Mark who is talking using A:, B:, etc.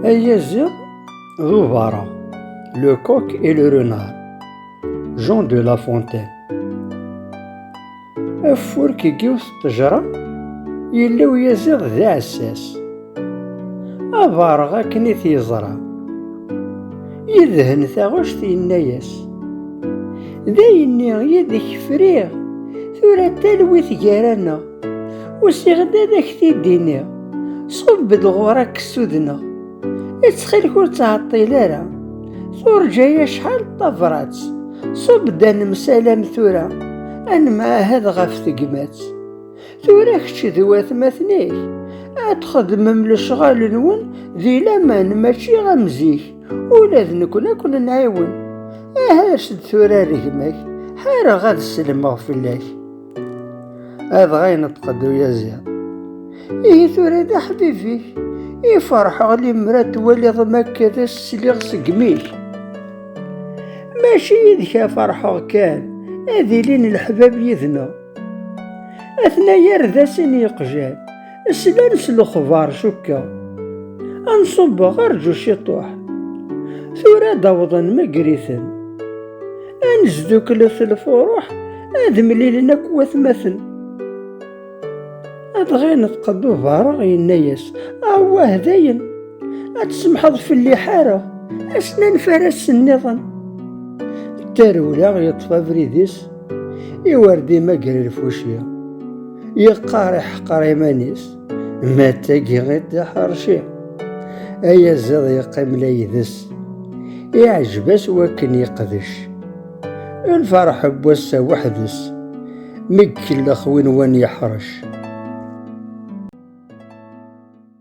A: Ayaziḍ d ubaṛa, le coq et le renard, Jean de La Fontaine. Afurk i yiwet ṭṭejra, yella uyaziḍ d aɛessas. Abaṛeɣ akken i t-yeẓra, yedhen taɣect yenna-yas, d ayenni yid-k friɣ, tura talwit gar-aneɣ. Usiɣ-d ad ak-t-id-iniɣ, ṣubb-d ɣur ad k-ssudneɣ. Ittxilek ur ttɛeṭṭil ara, turǧa-y acḥal d tabrat. Ṣubb-d ad nemsalam tura, ad nemɛahad ɣef tegmat. Tura kečč d watmaten-ik, ad txedmem lecɣal-nwen di laman mačči am zik, ula d nekni ad ken-nɛiwen. Aha as-d tura ar gma-k, ḥareɣ ad sellmeɣ fell-ak. Adɣa ineṭeq-d uyaziḍ. Ihi tura d aḥbib-ik. I ferḥeɣ limra twaliḍ makka d as-sliɣ segmi-k. Mačči yid-k a ferḥeɣ kan, ad ilin leḥbab yid-neɣ. Atna yar d asin yeqjan, Slan s lexbar cukkeɣ. Anṣubbeɣ arǧu ciṭuḥ. Tura ad awḍen megriten. Ad nesduklet lfuruḥ ad mlilen akk watmaten. Ad ɣineḍ qed ubareɣ yenna-yas, awah dayen, ad tsemḥeḍ fell-i ḥareɣ, asnan faras-nniḍen. Tarewla yeṭṭef abrid-is, iwer d-imagger lfuci. Yeqqar iḥqer iman-is, ma d tagi i d-iḥerci. Ayaziḍ yeqqim la ydes, iɛjeb-as wakken yeqdec. Lferḥ n wass-a weḥd-s, mi ikellex win wan yeḥrec.